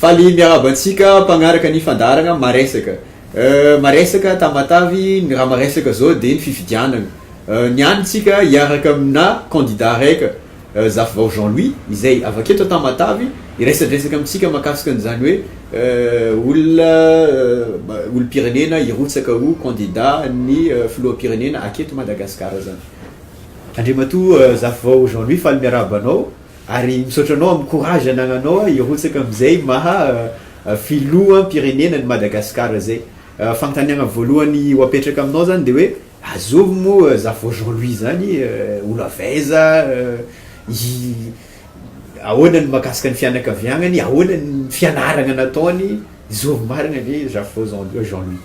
Faly miarahaba antsika mpagnaraka ny fandaharagna Maresaka. Maresaka Tamatavy, ny raha maresaka zao de ny fifidianagna. Ny any tsika hiaraka amina candidat reka, Zafivao Jean Louis, izay avy aketo Tamatavy, hiresadresaka amintsika mahakasika an'izany hoe olona olom-pirenena hirotsaka ho candidat ny filoham-pirenena aketo Madagasikara zany. Andriamatoa Zafivao Jean Louis faly miarahaba anao ary misaotra anao amin'ny courage anagnanao hirotsaka amin'izay maha filoham pirenena an'i Madagascar zay. Fanontaniagna voalohany ho apetraka aminao zany de hoe azovy moa Zafivao Jean Louis zany olo avy aiza, ahoana ny makasika ny fianakaviagnany, ahoana ny fianaragna nataony, zovy marigna ve Zafivao Jean Louis.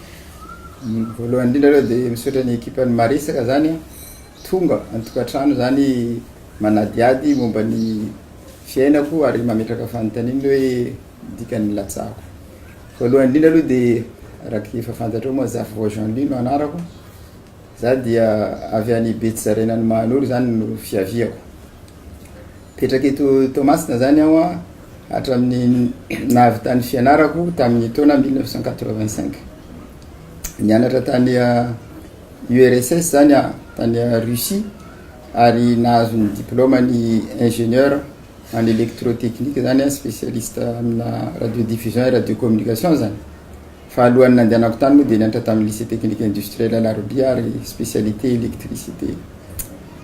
Voalohany indrindra aloha dia misaotra ny ekipan'ny Maresaka izany an, tonga an-tokantrano izany manadihady momba ny fiainako ary mametraka fanontaniana hoe ny dikan'ny latsahako. Voalohany indrindra aloha dia araka efa fantatrao moa Zafy Vao Jeanly no anarako, Za dia avy any Betsizaraina any Mahanoro izany no fiaviako. Mipetraka eto Toamasina izany aho hatramin'ny nahavitan'ny fianarako tamin'ny taona 1985. Nianatra tany URSS ah, izany aho, tany ah, Russie, ary nahazo ny diplôme ny ingénieur en électrotechnique izany aho, spécialiste amina radio diffusion et radio communication izany. Fa alohan'ny nandehanako tany moa dia nianatra tamin'ny Lycée Technique Industriel Alarobia ary spécialité électricité.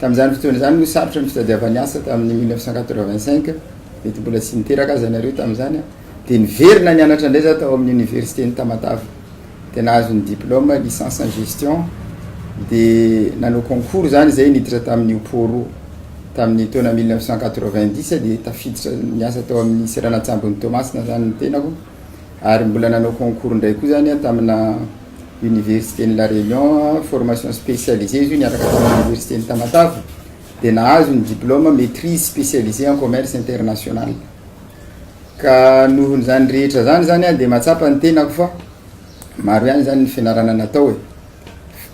Tamin'izany fotoana izany moa sarotra ny fitadiavany asa tamin'ny mille neuf cent quatre-vingt-cinq, mety mbola tsy niteraka aza ianareo tamin'izany aho, dia niverina nianatra indray izaho tao amin'ny Oniversiten'i Tamatave dia nahazo ny diplôme, licence en gestion, dia nanao concours izany izay niditra tamin'ny Uppo roa. Tamin'ny taona mille neuf cent quatre-vingt-dix dia tafiditra niasa tao amin'ny seranan-tsambon'i Toamasina izany ny tenako. ary mbola nanao concours indray koa zany aho tamina université ny la réunion formation spécialisée izy io niaraka tamina université ny tamatave dia nahazo ny diplôme maîtrise spécialisée en commerce international ka noho ny zany rehetra zany zany aho dia mahatsapa ny tenako fa maro ihany zany ny fianarana natao e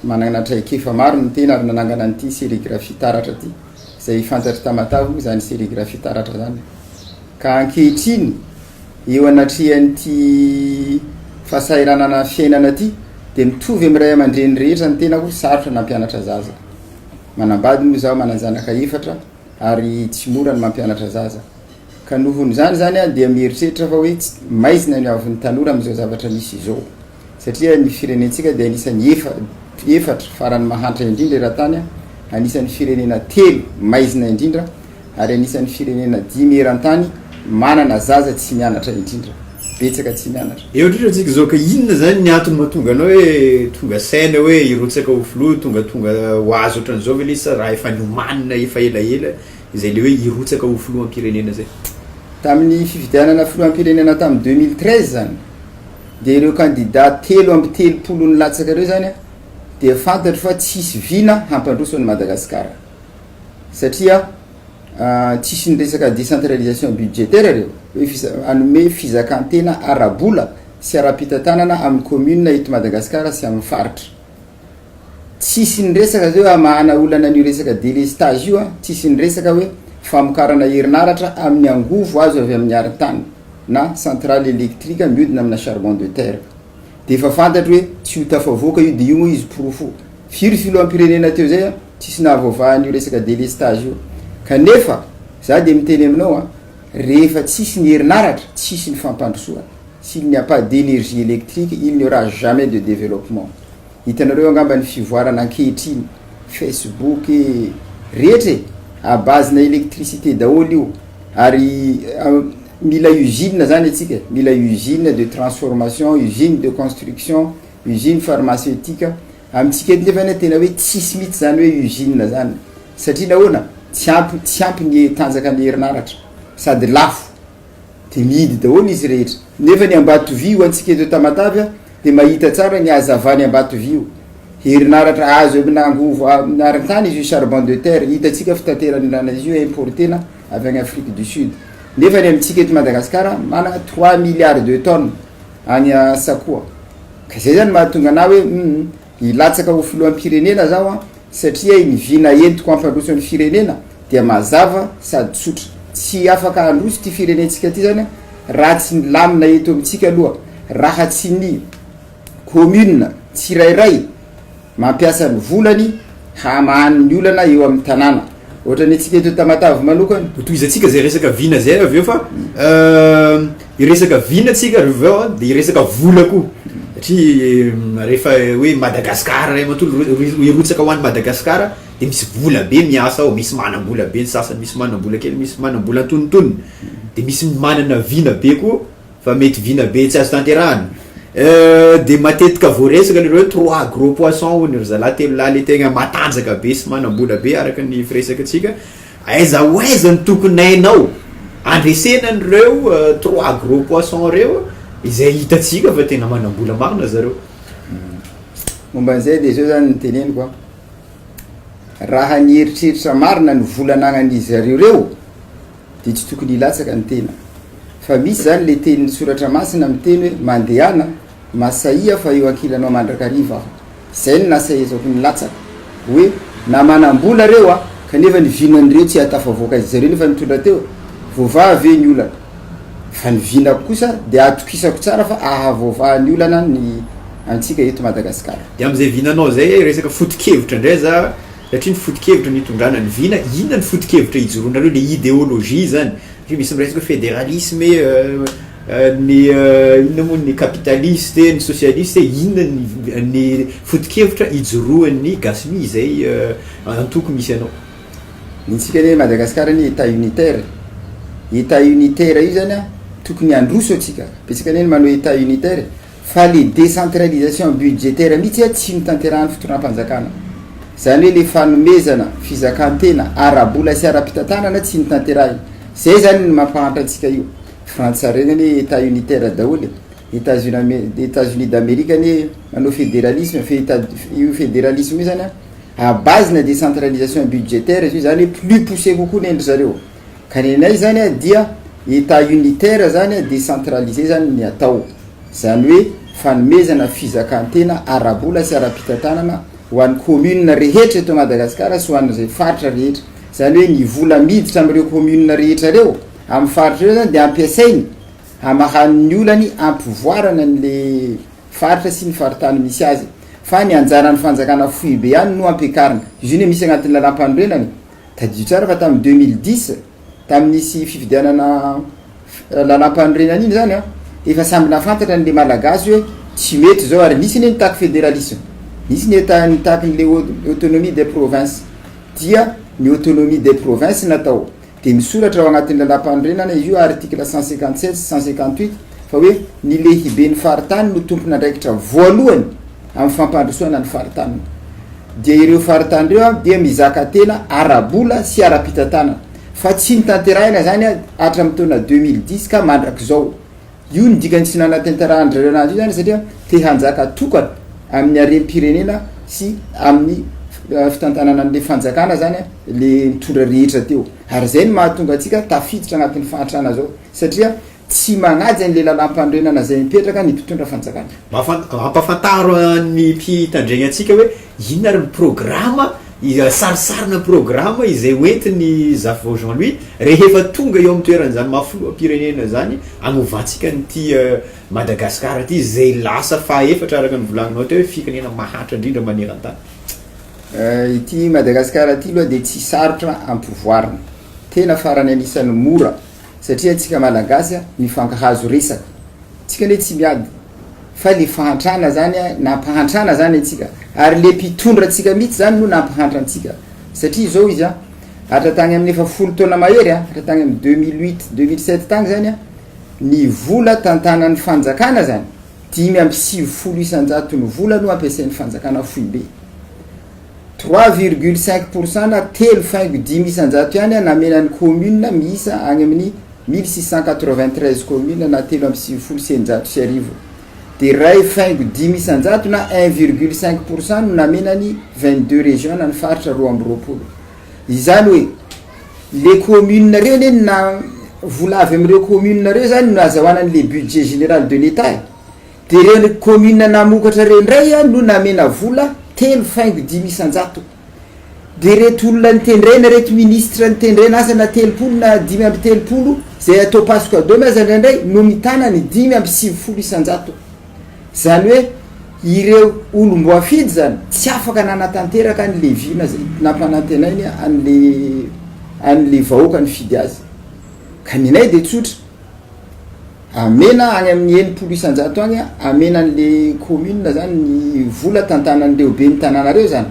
manana traikefa maro ny tena ary nanangana an'ity sérigraphie taratra ity izay fantatry tamatave moa zany sérigraphie taratra zany Ka ankehitriny, eo anatrehan'ity fahasahiranana fiainana ity, dia mitovy amin'ny ray aman-dreny rehetra ny tenako, sarotra nampianatra zaza. Manambady moa izaho, manan-janaka efatra, ary tsy mora ny mampianatra zaza. Ka nohon'izany izany aho dia mieritreritra fa hoe maizina ny haavon'ny tanora amin'izao zavatra misy izao. satria ny firenentsika dia anisan'ny efa, efatra farany mahantra indrindra eran-tany, anisan'ny firenena telo maizina indrindra, ary anisan'ny firenena dimy eran-tany manana zaza tsy mianatra indrindra. Betsaka tsy mianatra. Eo indrindra antsika izao ka inona izany ny antony mahatonga anao hoe tonga saina hoe hirotsaka ho filoha, tonga tonga ho azy ohatran'izao ve le izy sa raha efa niomanina efa elaela izay le hoe hirotsaka ho filoham-pirenena izay? Tamin'ny fifidianana filoham-pirenena tamin'ny deux mille treize izany, dia ireo kandida telo amby telopolo nilatsaka ireo izany dia fantatro fa tsy hisy vina hampandroso an'i Madagasikara satria tsisy ny resaka décentralisation budgétaire ireo hoe hanome fizakantena ara-bola sy ara-pitantanana amin'ny commune eto Madagasikara sy amin'ny faritra. Tsisy niresaka zay hoe hamahana olana an'io resaka délestage io an, tsisy niresaka hoe famokarana herinaratra amin'ny angovo azo avy amin'ny arintany na centrale électrique miodina amina charbon de terre. Dia efa fantatro hoe tsy ho tafavoaka io dia io moa izy porofo firy filoham-pirenena teo zay an, tsisy nahavoavaha an'io resaka délestage io. Kanefa za dia miteny aminao an, rehefa tsisy ny herinaratra, tsisy ny fampandrosoana. S'il n'y a pas d'énergie électrique, il n'y aura jamais de développement. Hitanareo angamba ny fivoarana ankehitriny, Facebook e, rehetra e, à base na électricité daholo io, ary mila usine zany antsika e, mila usine de transformation, usine de construction, usine pharmaceutique, amintsika eto nefany tena hoe tsisy mihitsy zany hoe usine zany, satria nahoana, tsy ampy, tsy ampy ny tanjakan'ny herinaratra, sady lafo. Dia mihidy daholo izy rehetra. Nefa ny Ambatovy ho antsika eto Tamatave a, dia mahita tsara ny hazavan'i Ambatovy io. Herinaratra azo amina angovo amin'ny arintany izy io, charbon de terre. Hitantsika fitaterany rana izy io importena avy any Afrique du Sud. Nefa ny amintsika eto Madagasikara manana trois milliards de tonnes any Sakoa. Ka izay izany mahatonga anah hoe hum Hilatsaka ho filoham-pirenena zaho an, satria ny vina entiko hampandroso ny firenena dia mazava sady tsotra. Tsy afaka handroso ity firenentsika ity zany raha tsy milamina eto amintsika aloha, raha tsy ny commune tsirairay mampiasa ny volany, hamahany ny olana eo amin'ny tanàna. Ohatran'ny antsika eto Tamatave manokana. Hotohizantsika izay resaka vina izay avy eo fa hiresaka vina tsika avy eo dia hiresaka vola koa satria rehefa hoe Madagascar iray manontolo hirotsaka ho any Madagascar dia misy vola be miasa ao, misy manam-bola be ny sasany, misy manam-bola kely, misy manam-bola antonontonony dia misy manana vina be koa. Fa mety vina be tsy azo tanterahana. Euh de matetika voaresaka le hoe trois gros poissons hono ry zalahy telo lahy le tegna matanjaka be sy manam-bola be araka ny firesakantsika, aiza ho aiza no tokony hainao handresena an'ireo trois gros poissons ireo izay hitantsika fa tena manam-bola marina zareo. Momba an'izay dia izao izany no teneniko an, raha ny eritreritra marina ny vola anagnan'izy zareo ireo, Dia tsy tokony hilatsaka ny tena. Fa misy izany ilay tenin'ny Soratra Masina miteny hoe, Mandehana, masahia fa eo ankilanao mandrakariva Aho. Izay no nasahizako ny latsaka. Hoe, na manam-bola ireo an, kanefa ny vinan'ireo tsy ahatafavoaka azy. Zareo nefa nitondra teo. Voavaha ve ny olana? Fa ny vinako kosa dia atokisako tsara fa ahavoavaha ny olana ny antsika eto Madagasikara. Dia amin'izay vinanao izay, resaka foto-kevitra indray za. Satria ny foto-kevitra ny hitondrana ny vina, inona ny foto-kevitra hijoroanareo, ilay ideologie izany? Satria misy miresaka hoe federalisme e, ny inona moa ny capitaliste e, ny socialiste e, inona ny ny foto-kevitra ijoroan'ny gasy mi izay antoko misy anao? Ny antsika anie Madagascar anie etat unitaire e, etat unitaire io zany an tokony handroso antsika, betsaka anie ny manao etat unitaire e. Fa le décentralisation budgétaire mihitsy a tsy notanterahan'ny fitondram-panjakana. Zany hoe le fanomezana fizakan-tena ara-bola sy ara-pitantanana tsy notanterahina. Zay zany ny mampahantra antsika io. Frantsa harena anie Etat unitaire daholo e. Etats-Unis Etats-Unis d'Amerique anie manao fédéralisme fe Etat io fédéralisme io zany a à base-na décentralisation budgétaire izy io zany hoe plus poussé kokoa ny an-dry zareo. Ka nenay izany a dia Etat unitaire zany a decentralisé zany ny atao. Zany hoe fanomezana fizakantena ara-bola sy ara-pitantanana ho an'ny communes rehetra eto Madagasikara sy ho an'izay faritra rehetra. Zany hoe ny vola miditra amin'ireo communes rehetra ireo amin'ny faritra ireo zany dia ampiasainy hamahany ny olany hampivoarana an'le faritra sy ny faritany misy azy. Fa ny anjaran'ny fanjakana foibe ihany no ampiakarina. Izy io anie misy agnatin'ny lalam-panorenana e. Tadidio tsara fa tamin'ny deux mille dix, tamin'ny nisy fifidianana lalam-panorenana iny izany an, efa samy nahafantatra ny Malagasy hoe tsy mety izao ary nisy anie nitaky federalisma, nisy ny eta nitaky ny le autonomie des provinces, dia ny autonomie des provinces natao, dia misoratra ao anatin'ny lalam-panorenana izy io article cent cinquante sept sy cent cinquante huit fa hoe ny lehiben'ny faritany no tompon'andraikitra voalohany, amin'ny fampandrosoana ny faritaniny dia ireo faritany ireo dia mizaka tena ara-bola sy ara-pitantanana fa tsy notanterahina izany hatramin'ny taona 2010 ka mandrakizao. Io no dikany tsy nanatanterahana ireo nazy io izany satria te hanjaka tokana amin'ny harem-pirenena sy amin'ny eh, fitantanana an'ilay fanjakana izany ilay mitondra rehetra teo. Ary izay no mahatonga antsika tafiditra anatin'ny fahantrana izao satria Tsy manaja ny lelalam-panorenana izay mipetraka ny mpitondra fanjakana. Ampahafantaro ny mpitandregny antsika hoe inona ary ny programa, sarisarina programa izay hoentin'i Zafivao Jean Louis rehefa tonga eo amin'ny toeran'izany maha filoham-pirenena izany hanovantsika an'ity Madagasikara ity izay lasa fahaefatra araka ny volagninao teo hoe firenena mahantra indrindra maneran-tany. Ity Madagasikara ity aloha dia tsy sarotra ampivoarina. Tena farany anisan'ny mora. satria antsika malagasy a mifankahazo resaka tsika ne tsy miady fa le fahantrana zany a nampahantrana zany antsika ary le mpitondra tsika mitsy zany no nampahantra antsika satria zao izy a hatra tagny amin'ny efa folo taona mahery a hatra tagny amin'ny 2008 2007 tagny zany a ny vola tantanan'ny fanjakana zany dimy amby sivifolo isanjato ny vola no ampiasain'ny fanjakana foibe Trois virgule cinq pour cent na telo faingo dimy isan-jato ihany namena ny kaominina miisa any amin'ny mille six cent quatre-vingt-treize kaominina na telo amby sivifolo sy eninjato sy arivo dia iray faingo dimy isan-jato na un virgule cinq pour cent no namena ny vingt-deux régions na ny faritra roa amby roapolo. Izany hoe le kaominina ireny eny na vola avy amin'ireo kaominina ireo izany no nazahoana an'ilay budget général de l'Etat e. Dia ny kaominina namokatra ireo indray no namena vola telo faingo dimy isan-jato. Dia ireto olona nitendrena, ireto minisitra nitendrena asa na telopolo na dimy amby telopolo izay atao passe cadeau aza indraindray no mitana ny dimy amby sivifolo isan-jato. Izany hoe ireo olom-boafidy izany tsy afaka nanatanteraka ny leviana izay nampanantenainy an'ilay an'ilay vahoaka nifidy azy. Ka ny anay dia tsotra. Amena any amin'ny enimpolo isanjato any amena an'le commune zany ny vola tantanan'ireo ben'ny tanàna reo zany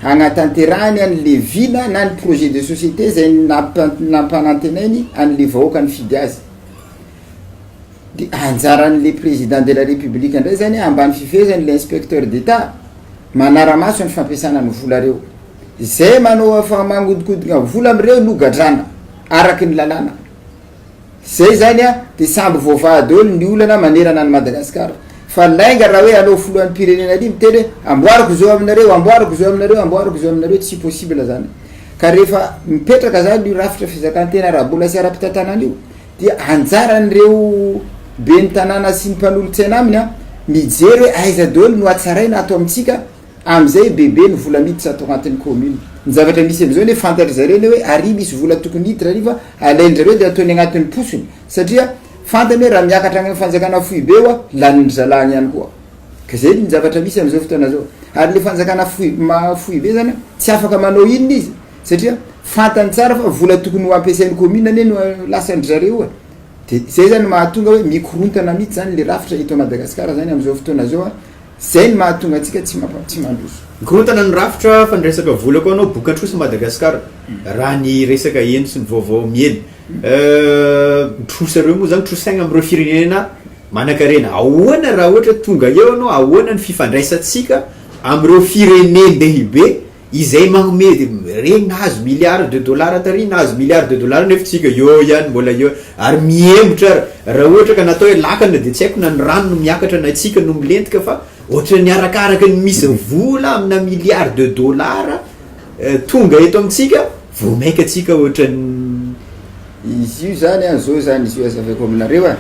hagnatanterahany an'le vina na ny projet de société zay nampanantenainy an'le vahoaka nifidy azy de anjaran'le président de la république indray zany ambany fifehezan'le inspecteur d'état manaramaso ny fampiasana ny vola reo zay manao fa magnodikodina vola am'reo no gadrana araky ny lalàna. Zay zany a, de samby voavaha daholo ny olana manerana an'i Madagascar. Fa lainga raha hoe hanao filohan'ny mpirenena ary miteny hoe amboariko zo aminareo, amboariko zo aminareo, amboariko zo aminareo, tsy possible zany. Ka rehefa mipetraka zany io rafitra fizakan-tena ara-bola sy ara-pitantanana io dia anjaran'ireo ben'ny tanàna sy ny mpanolotsaina aminy a, mijery hoe aiza daholo no hatsaraina ato amintsika, Amizay bebe ny vola miditra ato agnatin'ny commune. Ny zavatra misy amizao anie fantatry zareo anie hoe ary misy vola tokony hiditra ary fa alain'drareo dia ataony agnatin'ny posony satria fantany hoe raha miakatra agny am fanjakana foibe oa lanin-dry zalahy ihany koa. Ka zay ny zavatra misy amizao fotoana zao. Ary le fanjakana foib- maha foibe zany an tsy afaka manao inona izy satria fantany tsara fa vola tokony ho ampiasain'ny commune anie no lasan-dry zareo e. De zay zany mahatonga hoe mikorontana mitsy zany le rafitra eto a Madagasikara zany amizao fotoana zao an. Zay ny mahatonga antsika tsy tsy mandroso. Mikorontana ny rafitra fa ny resaka vola koa anao boka trosa Madagascar raha ny resaka heno sy ny vaovao miely euh trosa reo moa zany trosaina am reo firenena manakarena ahoana raha ohatra tonga eo anao ahoana ny fifandraisantsika am reo firenen dehibe izay magnome regny nahazo milliard de dollars tary nahazo milliard de dollars nefa tsika eo ihany mbola eo ary mihemotra ary raha ohatra ka natao hoe lakana dia tsy haiko na ny rano no miakatra na tsika no milentika fa ohatran'ny arakaraka ny misy vola amina milliard de dollars tonga eto amintsika vao maika tsika ohatran'ny Izy io zany an, zao zany izy io azavaiko aminareo an,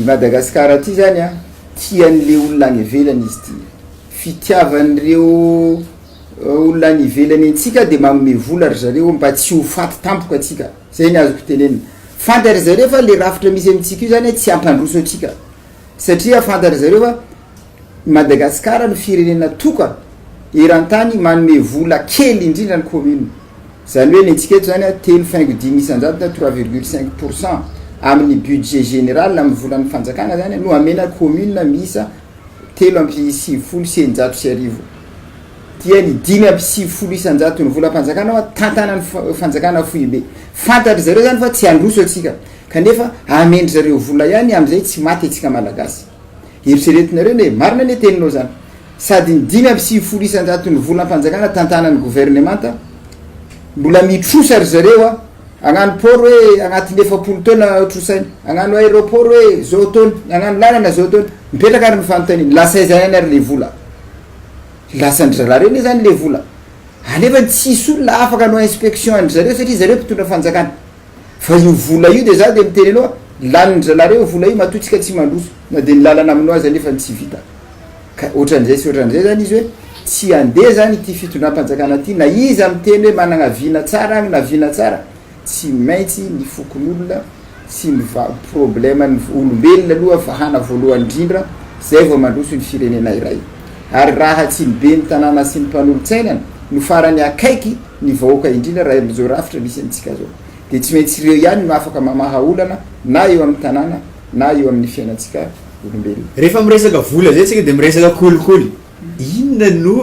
i Madagasikara ty zany an, tian'le olona any ivelany izy ty. fitiavan'ireo olona any ivelany antsika dia manome vola ry zareo mba tsy ho faty tampoka antsika, zay ny azoko tenenina. Fantatry zareo fa le rafitra misy amintsika io zany tsy hampandroso antsika satria fantatry zareo fa i Madagasikara no firenena toka eran-tany manome vola kely indrindra ny commune, zany hoe ny antsika eto zany telo faingo dimy isan-jato na trois virgule cinq pourcent amin'ny budget général amin'ny volan'ny fanjakana zany no amena commune miisa telo amby sivifolo sy eninjato sy arivo dia ny dimy amby sivifolo isan-jaton'ny volam-panjakana hoa tantanan'ny fanjakana foibe. Fantatry zareo zany fa tsy handroso antsika kanefa amen-dry zareo vola ihany amin'izay tsy maty antsika Malagasy. Eritreretinareo anie, marina anie teninao zany, sady ny dimy amby sivifolo isan-jaton'ny volam-panjakana tantanan'ny governemanta mbola mitrosa ry zareo a! Agnano port hoe agnatin'ny efapolo taona trosaina, agnano aeroport hoe zao taona, agnano lalana zao taona, mipetraka ary ny fanontaniana, lasa aiza ihany ary le vola? Lasan-dry zalahy reo anie zany le vola, anefa tsisy olona afaka hanao inspection an-dry zareo satria zareo mpitondra fanjakana, fa io vola io de za de miteny anao, lanin-dry zalahy reo io vola io matoa tsika tsy mandroso, na de ny lalana aminao aza nefa ny tsy vita. Ka ohatran'izay sy ohatran'izay izany izy hoe tsy handeha izany ity fitondram-panjakana ity, na iza miteny hoe manana vina tsara agny na vina tsara, tsy maintsy ny fokonolona sy ny va- probleman'ny olombelona aloha vahana voalohany indrindra, izay vao mandroso ny firenena iray. Ary raha tsy ny ben'ny tanàna sy ny mpanolotsainana no farany akaiky ny vahoaka indrindra raha amin'izao rafitra misy antsika izao, dia tsy maintsy ireo ihany no afaka mamaha olana na eo amin'ny tanàna na eo amin'ny fiainantsika olombelona. Rehefa miresaka vola izay isika dia miresaka kolikoly. Inona no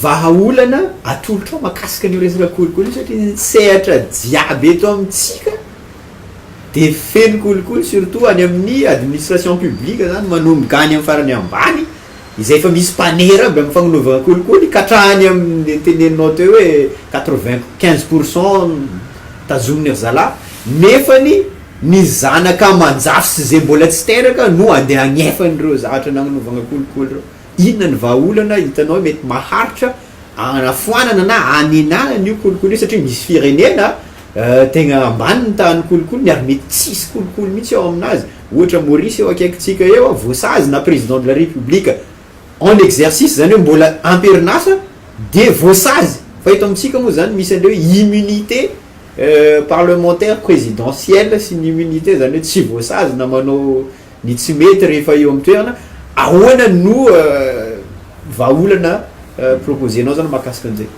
vahaolana atolotrao makasika an'io resaka kolikoly io satria ny sehatra jiaby eto amintsika dia feno kolikoly surtout any amin'ny administration publique izany manomboka any amin'ny farany ambany izay efa misy mpanera aby amin'ny fagnanovana kolikoly ka hatrany amin'ny teneninao teo hoe quatre-vingt quinze pour cent tazominy ry zalahy nefany Ny zanaka aman-jafy sy izay mbola tsy teraka no andeha hagnefa an'ireo zavatra nagnovagna kolikoly ireo. Inona ny vahaolana hitanao mety maharitra hanafoanana na hanenana an'io kolikoly io satria misy firenena tegna ambany ny tahan'ny kolikoly ary mety tsisy kolikoly mihitsy ao aminazy. Ohatra Maurice eo akaikintsika eo a, voasazy na président de la république en exercice izany hoe mbola am-perin'asa dia voasazy. Fa eto amintsika moa izany misy an'ilay hoe immunité. Parlementaire presidentiel sy ny immunité izany hoe tsy voasazy na manao ny tsy mety rehefa eo amin'ny toerana, ahoana no vahaolana proposer-nao izany mahakasika an'izay?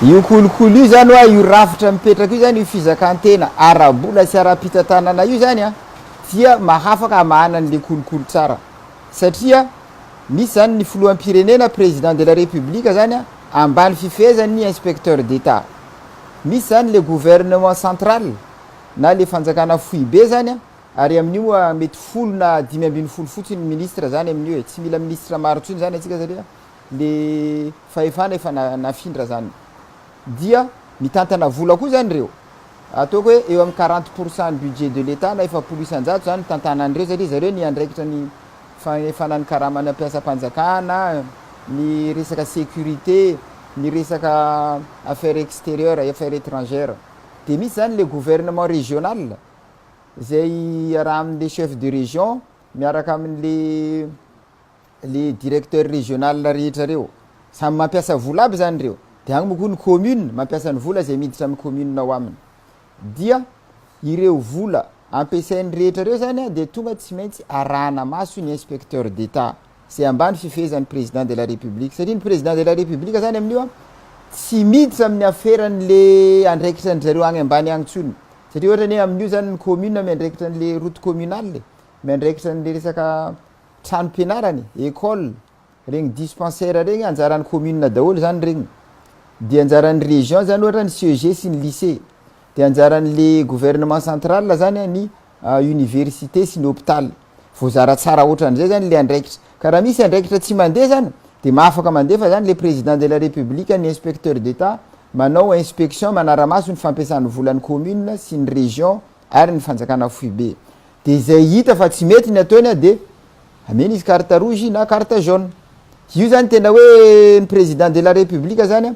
Io kolikoly io izany hoa io rafitra mipetraka io izany io fizakan-tena ara-bola sy ara-pitantanana io izany an, dia mahafaka hamahana an'ilay kolikoly tsara satria misy izany ny filoham-pirenena, président de la république, izany an, ambany fifehezan'ny inspecteur d'Etat. Misy zany le gouvernement central na le fanjakana foibe zany an, ary amin'io moa mety folo na dimy ambin'ny folo fotsiny ny ministre zany amin'io e, tsy mila ministre maro intsony zany antsika satria le fahefana efa nafindra zany. Dia mitantana vola koa zany reo, ataoko hoe eo amin'ny quarante pour cent ny budget de l'Etat na efapolo isan-jato zany tantanan'ireo satria zareo niandraikitra ny fanefana ny karaman'ny mpiasam-panjakana, ny resaka sécurité, ny resaka affaires extérieures, affaires étrangères. Dia misy izany ilay gouvernement régional, izay iarahan'ilay chef de région miaraka amin'ilay ilay directeur régional rehetra ireo. Samy mampiasa vola aby izany ireo. Dia any moa koa ny commune mampiasa ny vola izay miditra amin'ny commune ao aminy. Dia ireo vola ampiasainy rehetra ireo izany dia tonga tsy maintsy arahana maso ny inspecteur d'Etat izay ambany fifehezan'ny Président de la République satria ny Président de la République izany amin'io tsy miditra amin'ny aferan'ilay andraikitra an-dry zareo any ambany any intsony satria ohatra ny hoe amin'io izany ny commune miandraikitra an'ilay route communale, miandraikitra an'ilay resaka tranom-pianarana e, école. Regny dispensaire regny anjaran'ny commune daholo zany regny, de anjaran'ny région zany ohatra ny CEG sy ny lycée, de anjaran'le gouvernement central zany an ny université sy ny hôpital, voazara tsara otran'izay zany le andraikitra, ka raha misy andraikitra tsy mandeha zany de ma afaka mandefa zany le président de la république ny inspecteur d'état manao inspection manara-maso ny fampiasana volan'ny commune sy ny région ary ny fanjakana foibe, de zay hita fa tsy mety ny ataony an de Amena izy carte rouge na carte jaune. Io zany tena hoe ny président de la république zany an,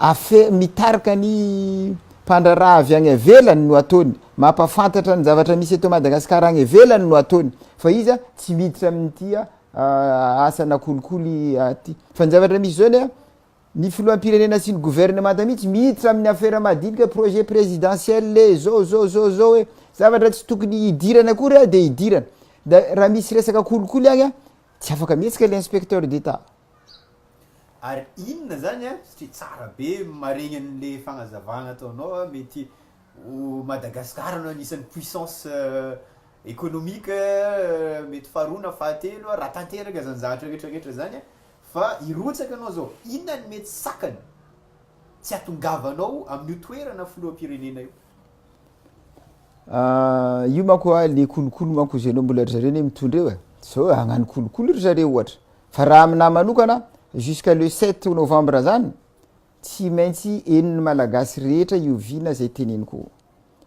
afe mitarika ny mpandraharaha avy any avelany no ataony, mampafantatra ny zavatra misy eto Madagascar any avelany no ataony fa iza tsy miditra amin'ity asa na kolikoly aty fa ny zavatra misy zao anie an, Ny filoham-pirenena sy ny gouvernemanta mihitsy miditra amin'ny afera madinika projet présidentiel e, zao zao zao zao e, zavatra tsy tokony hidirana akory a dia hidirana. Da raha misy resaka kolikoly agny a, tsy afaka mihetsika le inspecteur d'état. Ary inona zany a, satria tsara be maregny anle fagnazavagna ataonao a, mety ho Madagascar no agnisan'ny puissance économique mety faharoa na fahatelo a, raha tanteraka zany zavatra rehetra rehetra zany a, Fa hirotsaka anao zao, inona ny mety sakana tsy hatongavanao amin'io toerana filoham-pirenena io? Ah, io manko ah, le kolikoly manko zay anao mbola ry zareo anie mitondra eo eh, zao hagnano kolikoly ry zareo ohatra, fa raha aminahy manokana, jusqu'à le sept novembre zany, Tsy maintsy henon'ny Malagasy rehetra io vina izay teneniko io.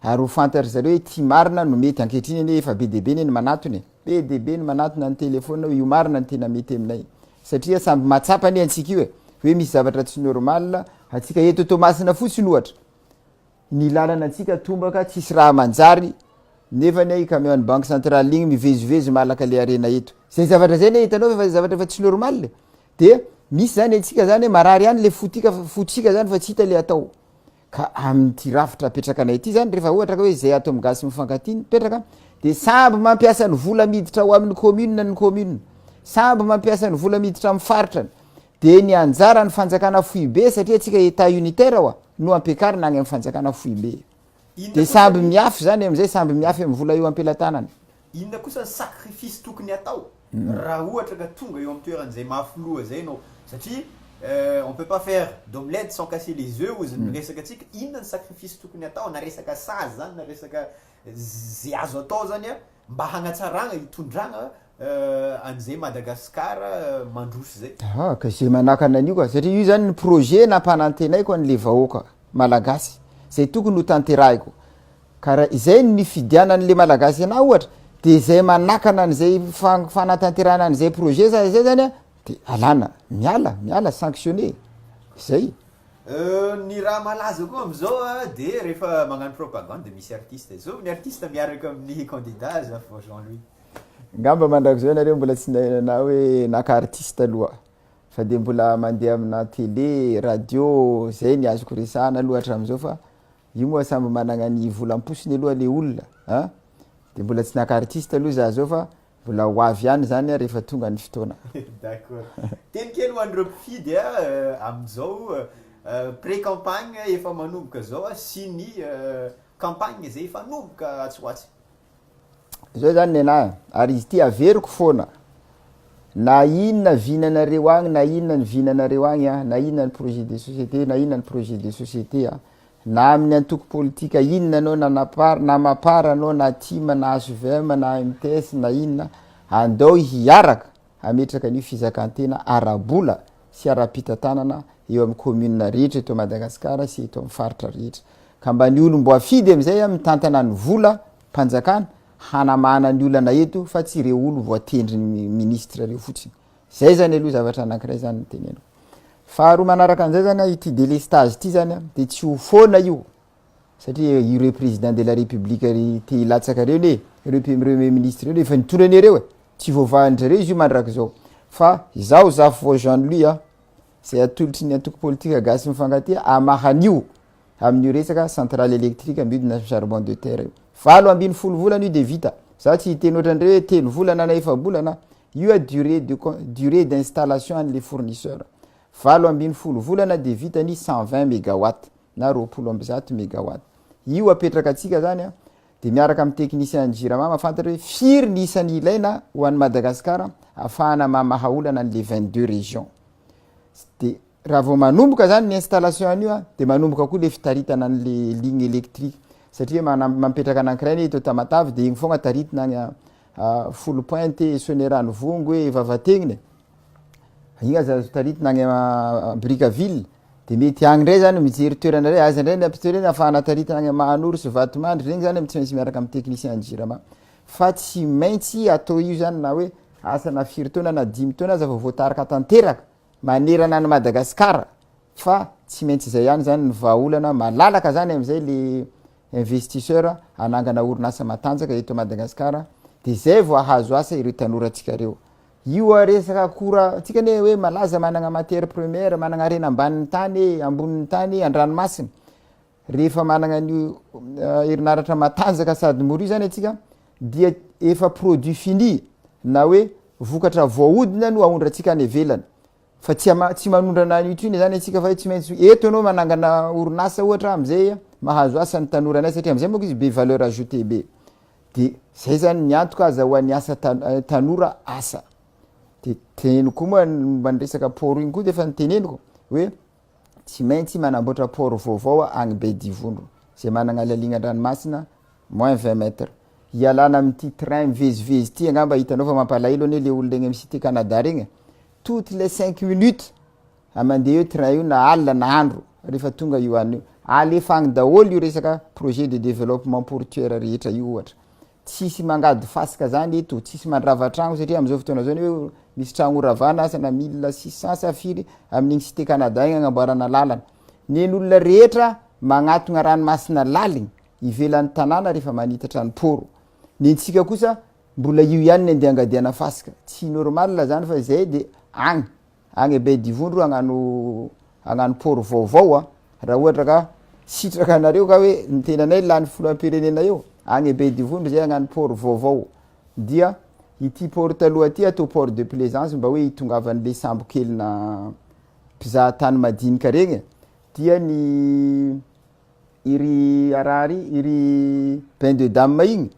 Ary ho fantatr'i zareo hoe ity marina no mety ankehitriny anie efa be dia be anie ny manatona e! Be dia be ny manatona ny telefaonina hoe io marina no tena mety aminay. Satria samby mahatsapa anie antsika io e! Hoe misy zavatra tsy normal antsika eto Toamasina fotsiny ohatra. Ny lalana antsika tombaka tsisy raha manjary nefa anie i camion ny banque centrale igny mivezivezy malaka le harena eto zay zavatra zay anie hitanao efa zavatra efa tsy normal e de misy zany antsika zany marary any le fotika fotsika zany fa tsy hita le atao ka amty rafitra apetrakanay ty zany refa ohatra ka hoe zay ato am gasy mifankatia mipetraka de samby mampiasa ny vola miditra ao aminy commune ny commune samby mampiasa ny vola miditra am faritra ny. Dia ny anjaran'ny fanjakana foibe, satria antsika Etat unitaire oa, no ampiakarina any amin'ny fanjakana foibe. Dia samby miafy izany amin'izay, samby miafy amin'ny vola eo am-pelatanana. Inona kosa ny sacrifice tokony hatao raha ohatra ka tonga eo amin'ny toeran'izay mafy loha izay ianao? Satria on peut pas faire d'omelette sans casser les œufs hozy ny miresaka antsika. Inona ny sacrifice tokony hatao na resaka sazy izany na resaka izay azo atao izany mba hanatsarana, hitondrana an'izay Madagascar mandroso izay. Aha, ka izay manakana an'io ka, satria io zany ny projet nampanantenaiko an'le vahoaka Malagasy, izay tokony ho tanterahiko, ka raha izay no nifidianan'le Malagasy anah ohatra, de izay manakana an'izay fanatanterahana an'izay projet za izay zany an, de alana, miala, miala, sanctionner, izay. Ny raha malaza koa am'zao an, de rehefa magnano propagande de misy artiste, zao ny artiste miaraka amin'ny candidat aza vao Jean Louis. Ngamba mandrakizay nareo mbola tsy nainana hoe naka artiste aloha fa de mbola mande amina tele, radio zay ny azoko resahana aloha hatramizao fa io moa samby managna ny vola amposiny aloha le olona a! de mbola tsy naka artiste aloha za zao fa mbola ho avy ihany zany rehefa tonga ny fotoana. D'accord. Teny kely ho an'ireo mpifidy a, amin'izao pré campagne efa manomboka zao sy ny campagne izay hifanomboka atsy ho atsy. zao zany nenahy ary izy ity averiko foana na inona vinanareo agny na inona ny vinanareo agny a na inona ny projet de société na inona ny projet de société a na amin'ny antoko politika inona anao na napar na mapar anao na tim na hvm na mts na inona andao hiaraka hametraka ny fizakan-tena ara-bola sy ara-pitantanana eo amin'ny kaominina rehetra eto Madagasikara sy eto amin'ny faritra rehetra, ka mba ny olom-boafidy amin'izay a mitantana ny vola mpanjakana hanamahana ny olana eto fa tsy ireo olon voatendrin'ny ministra ireo fotsiny. Izay izany aloha zavatra anankiray izany no teneniko. Faharoa manaraka an'izay izany a, ity delestage ity izany a, dia tsy ho foana io satria ireo président de la république ry te hilatsaka reo ne reo premier ministre reo efa nitondra anareo e tsy voavahan-dry zareo izy io mandrakizao fa izaho Zafivory Jean Louis a zay atolotry ny antoko politika gasy mifankatia hamaha an'io amin'io resaka centrale électrique miodina amin'ny charbon de terre io valo ambin'ny folo volana io dia vita za tsy hiteny ohatran'ireo hoe telo volana na efa-bolana io a durée de durée d'installation an'ilay fournisseur valo ambin'ny folo volana dia vita ny cent vingt mégawatts na roapolo amby zato megawatt. Io apetraka antsika zany an, dia miaraka amin'ny technicien ny Jirama mahafantatra hoe firy ny isany ilaina ho an'i Madagasikara ahafahana mamaha olana an'ilay vingt deux région. Dia raha vao manomboka zany ny installation an'io an, dia manomboka koa ilay fitaritana an'ilay ligne électrique satria manam- mampetraka anankiray anie eto Tamatave dia iny foagna taritina any an, folo pointe e, Soanierano Vongo e, Vavatenina e. Iny aza azo taritina any à Brickaville de mety any ndray zany mijery toerana ndray aiza ndray ny apitoerana iny afahana taritina any Mahanoro sy Vatomandry regny zany tsy maintsy miaraka am technicien jirama fa tsy maintsy atao io zany na hoe asa na firy taona na dimy taona aza vao voatarika tanteraka manerana any Madagascar fa tsy maintsy zay ihany zany ny vahaolana malalaka zany amzay le investisseur hanangana orinasa matanjaka eto Madagascar de zay vao ahazo asa ireo tanorantsika reo Io a resaka akora tsika anie hoe malaza managna matière première managna harena ambanin'ny tany e, ambonin'ny tany e, andranomasina rehefa managna an'io herinaratra matanjaka sady mora io zany antsika dia efa produit fini na hoe vokatra voahodina no aondratsika any ivelany Fa tsy ama- tsy manondrana any Utune zany antsika fa hoe tsy maintsy hoe eto ianao manangana orinasa ohatra am'zay a, mahazo asa ny tanora anay satria am'zay manko izy be valeur ajoutée be. De zay zany ny antoka aza ho an'ny asa ta- tanora asa. De teneniko koa moa momba ny resaka port iny koa de efa noteneniko hoe Tsy maintsy manamboatra port vaovao agny Bedivondro, zay managna laliagna an-dranomasina moins vingt mètres. Hialana amin'ity train mivezivezy ity angamba hitanao fa mampalahelo anie le olona egny am cité Canada regny e! Toutes les cinq minutes a mandeha io train io na alina na andro rehefa tonga io anio. Alefa agny daholo io resaka projet de développement portuaire rehetra io ohatra. Tsisy mangady fasika zany eto, tsisy mandrava tragno satria amzao fotoana zao ny hoe misy tragno ho ravana asa na mille six cent sa firy amin'iny cité Canada iny agnamboarana lalana. Nen'olona rehetra magnatogna ranomasina laligny ivelan'ny tanàna rehefa manitatra ny pôro. Nentsika kosa mbola io ihany ny andiangadiana fasika. Tsy normal zany fa izay dia agny. agny Bedivondro hagnano hagnano port vaovao a, raha ohatra ka sitraka anareo ka hoe ny tenanay lany filoham-pirenena eo, agny Bedivondro zay hagnano port vaovao, dia ity port taloha ty atao port de plaisance mba hoe hitongavan'le sambo kelinà mpizaha tany madinika regny e, dia ny iry araha ry iry bain de dame igny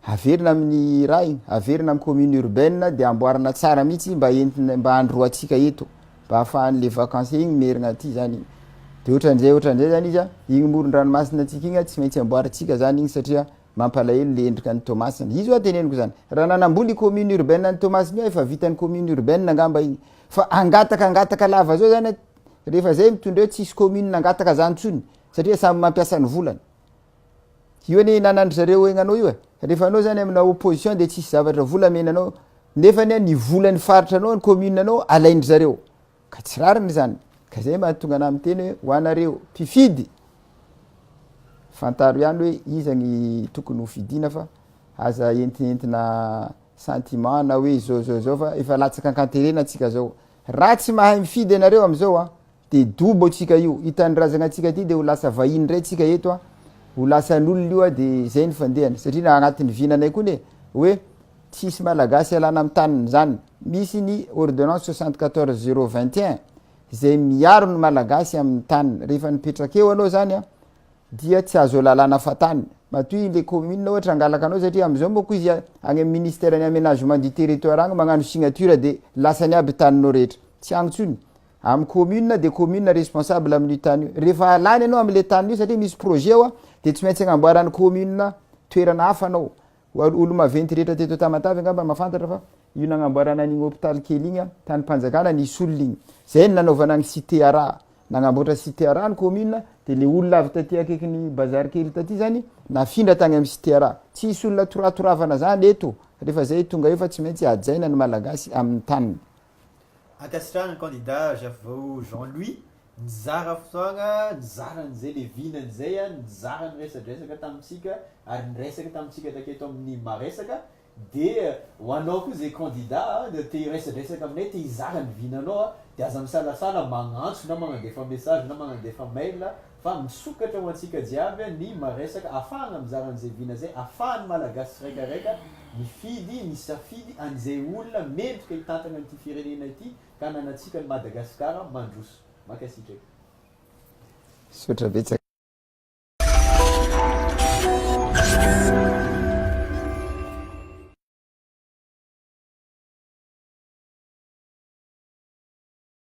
Averina amin'ny Ray, averina amin'ny commune urbaine dia amboarina tsara mihitsy mba entina mba androantsika eto mba afahan'le vacances igny merigna aty zany igny de ohatran'izay ohatran'izay zany izy a, igny moron-dranomasina antsika igny a tsy maintsy amboarintsika zany igny satria mampalahelo le endrika an'i Toamasina, izy hoa teneniko zany raha nanamboly i commune urbaine an'i Toamasina io efa vitan'ny commune urbaine angamba igny fa hangataka hangataka lava zao zany a rehefa zay mitondra eo tsisy commune hangataka zany tsony satria samy mampiasa ny volany. Io anie hinanandry zareo egnanao io e, rehefa anao zany amina opposition de tsisy zavatra vola amena anao, nefany an ny volany faritra anao ny commune anao alaindry zareo, ka tsy rariny zany, ka zay mahatonga anah miteny hoe ho anareo mpifidy fantaro ihany hoe iza ny tokony ho fidina fa aza entinentina sentiment na hoe zao zao zao fa efa latsaka ankanterena tsika zao, raha tsy mahay mifidy ianareo amizao an Dia dobo tsika io. Io tanindrazagna tsika ty dia ho lasa vahiny ndray tsika eto a. Ho lasan'olona io a dia zay ny fandehany. Satria na agnatin'ny vinanay koa ne hoe tsy hisy malagasy alana am taniny zany. Misy ny ordonnance soixante quatorze zero vingt et un zay miaro ny malagasy am taniny. Rehefa nipetraka eo anao zany a dia tsy azo alalana fa tany. Matoa i le commune ohatra hangalaka anao satria am zao manko izy agny am ministère ny aménagement du territoire agny magnano signature dia lasany aby taninao rehetra. Tsy agny tsony. Am commune de commune responsable am io tany io. Refa lany anao am le tany io satria misy projet ao de tsy maintsy agnamboaran commune toerana hafa anao. Hoan olo maventy rehetra teto Tamatave angamba mafantatra fa io nagnamboarana an'igny hôpital kely igny tany panjakana nisy olona igny. Zay ny nanaovana ny cite ara. Nagnamboatra cite ara ny commune de le olona avy taty akaikin'ny bazar kely taty zany nafindra tagny am cite ara. Tsy hisy olona toratoravana zany eto refa zay tonga eo fa tsy maintsy hajaina ny malagasy am taniny. Ankasitrahana ny kandida Gervao Jean Louis nizara fotoagna nizara an'izay le vinany izay a, nizara niresadresaka tamintsika ary niresaka tamintsika taketo amin'ny Maresaka dia ho anao koa izay kandida te hiresadresaka aminay te hizara ny vinanao a dia aza misalasala magnantso na magnandefa message na magnandefa mail Fa misokatra ho antsika jiaby ny maresaka afahagna mizara an'izay vina zay afahan'ny Malagasy tsiraikaraika mifidy ny safidy an'izay olona mendrika hitantagna ity firenena ity ka ananantsika an'i Madagasikara mandroso. Mankasitraka. Misaotra betsaka.